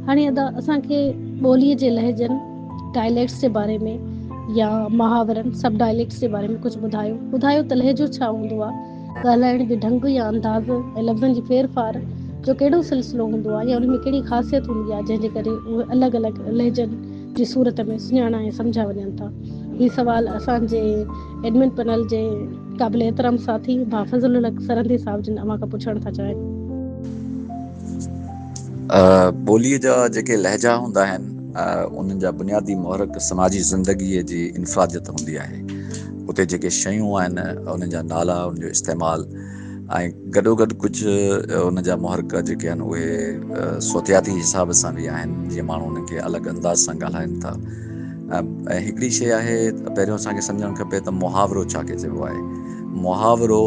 هاڻي ادا اسان کي ٻوليء جي لهجن، Dialects، جي باري ۾ يا محاورن، Subdialects، جي باري ۾ ڪجهه ٻڌايو. ٻڌايو ته لهجو ڇا هوندو آ؟ ڳالهائڻ جو ڍنگ يا انداز ۽ لفظن جي ڦير ڦار جو ڪهڙو سلسلو هوندو آ يا انهي ۾ ڪهڙي خاصيت هوندي آ جنهن جي ڪري اهي الڳ الڳ لهجن جي صورت ۾ سڃاڻا ۽ سمجهيا وڃن ٿا؟ هي سوال اسان جي ايڊمن پئنل جي قابل احترام ساٿي ڀا فضل الحق سرهندي صاحب جن اوهان کان پڇڻ ٿا چاهيون. ٻوليء جا جيڪي لهجا هوندا آهن انهن جا بنيادي محرڪ سماجي زندگيء جي انفراديت هوندي آهي. اتي جيڪي شيون آهن انهن جا نالا انهن جو استعمال ۽ گڏو گڏ ڪجهه ان جا محرڪ جيڪي آهن اهي صوتياتي حساب سان به آهن جيئن ماڻهو انهن کي الڳ انداز سان ڳالهائن ٿا ۽ هڪڙي شي آهي پهريون اسان کي سمجهڻ کپي ته محاورو ڇا کي چئبو آهي محاورو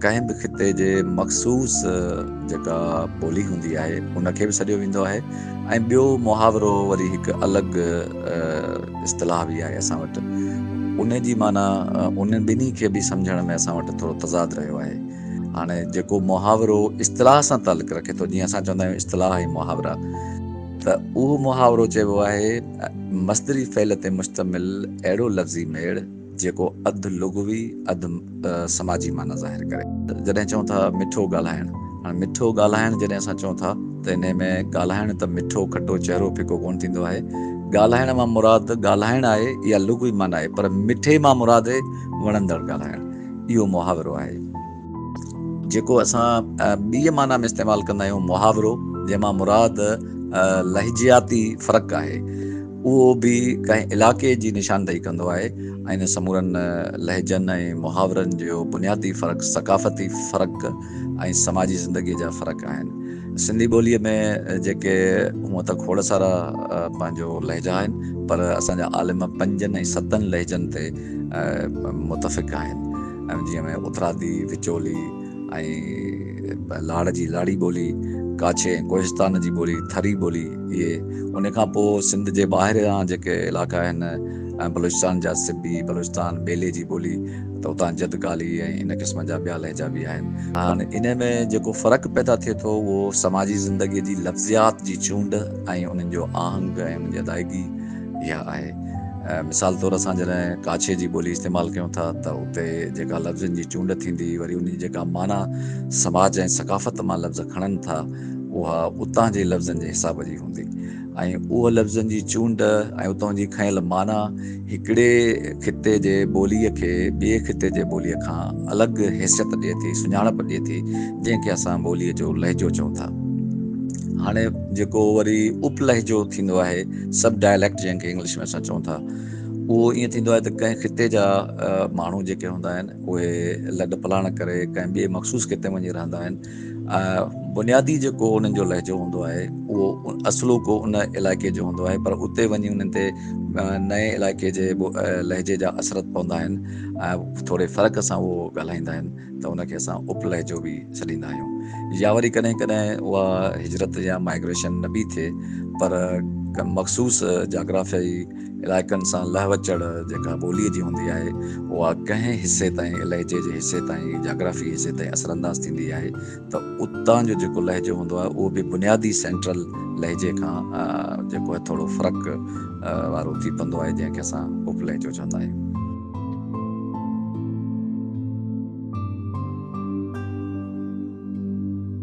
ڪنهن به خطي جي مخصوص جيڪا ٻولي هوندي آهي ان کي به سڏيو ويندو آهي ۽ ٻيو محاورو وري هڪ الڳ اصطلاح به آهي اسان وٽ ان جي معنيٰ ان ٻنهي کي به سمجهڻ ۾ اسان وٽ ٿورو تضاد رهيو آهي هاڻي جيڪو محاورو اصطلاح سان تعلق رکي ٿو جيئن اسان چوندا آهيون اصطلاح ۽ محاورا ته اهو محاورو چئبو آهي مصدري فعل تي مشتمل اهڙو لفظي ميڙ جيڪو اڌ لغوي اڌ سماجي معنيٰ ظاهر ڪري. جڏهن چئون ٿا مٺو ڳالهائڻ. هاڻ مٺو ڳالهائڻ جڏهن اسان چئون ٿا ته انهي ۾ ڳالهائڻ ته مٺو کٽو چهرو ڦڪو ڪونه ٿيندو آهي. ڳالهائڻ مان مراد ڳالهائڻ آهي اها لغوي معنيٰ آهي پر مٺي مان مراد هي وڻندڙ ڳالهائڻ. اهو محاورو آهي. جيڪو اسان ٻيء معنيٰ ۾ استعمال ڪندا آهيون محاورو جنهن مان مراد لهجياتي فرق آهي. اهو به ڪنهن علائقي جي نشاندهي ڪندو آهي ۽ ان سمورن لهجن ۽ محاورن جو بنيادي فرق ثقافتي فرق ۽ سماجي زندگيء جا فرق آهن. سنڌي ٻوليء ۾ جيڪي هونء ته کوڙ سارا پنهنجو لهجا آهن، پر اسان جا عالم پنجن ۽ ستن لهجن تي متفق آهن، جيئن اترادي، وچولي، ۽ لاڙ جي لاڙي ٻولي، ڪاڇي ۽ ڪوهستان جي ٻولي ٿري ٻولي اهي ان کان پوء سنڌ جي ٻاهريان جيڪي علائقا آهن ۽ بلوچستان جا سبي، بلوچستان ٻيلي جي ٻولي ته اتان جد ڪالي ۽ ان قسم جا ٻيا لهجا به آهن. هاڻ انهي ۾ جيڪو فرق پيدا ٿئي ٿو اهو سماجي زندگي جي لفظيات جي چونڊ ۽ انهن جو آهنگ ۽ انهن جي ادائگي، اها آهي. مثال طور اسان جڏهن ڪاڇي جي ٻولي استعمال ڪيون ٿا ته اتي جيڪا لفظن جي چونڊ ٿيندي وري انهي جيڪا معنيٰ سماج ۽ ثقافت مان لفظ کڻن ٿا اها اتان جي لفظن جي حساب جي هوندي ۽ اهو لفظن جي چونڊ ۽ اتان جي کنيل معنيٰ هڪڙي خطي جي ٻولي کي ٻئي خطي جي ٻولي کان الڳ حيثيت ڏئي ٿي سڃاڻپ ڏئي ٿي جنهن کي اسان ٻولي جو لهجو چئون ٿا. هاڻي جيڪو وري اپ لهجو ٿيندو آهي. سب ڊائليڪٽ جنهن کي انگلش ۾ اسان چئون ٿا اهو ائين ٿيندو آهي ته ڪنهن خطي جا ماڻهو جيڪي هوندا آهن اهي لڏ پلاڻ ڪري ڪنهن ٻئي مخصوص خطي ۾ وڃي رهندا آهن بنيادي جيڪو انهن جو لهجو هوندو آهي اهو اصلو ڪو ان علائقي جو هوندو آهي پر اتي وڃي انهن تي نئين علائقي جي لهجي جا اثرت پوندا آهن ۽ ٿوري فرق سان اهو ڳالهائيندا آهن ته ان کي اسان اپ لهجو به سڏيندا آهيون يا وري ڪڏهن ڪڏهن اها هجرت يا مائگريشن نه به ٿئي پر ڪن مخصوص جاگرافيائي علائقن سان لهه وچڙ جيڪا ٻوليء جي هوندي آهي اها ڪنهن حصي تائين لهجي جي حصي تائين جاگرافي حصي تائين اثرانداز ٿيندي آهي ته اتان جو جيڪو لهجو هوندو آهي اهو به بنيادي سينٽرل لهجي کان جيڪو آهي ٿورو فرق وارو ٿي پوندو آهي جنهن کي اسان اپ لهجو چوندا آهيون.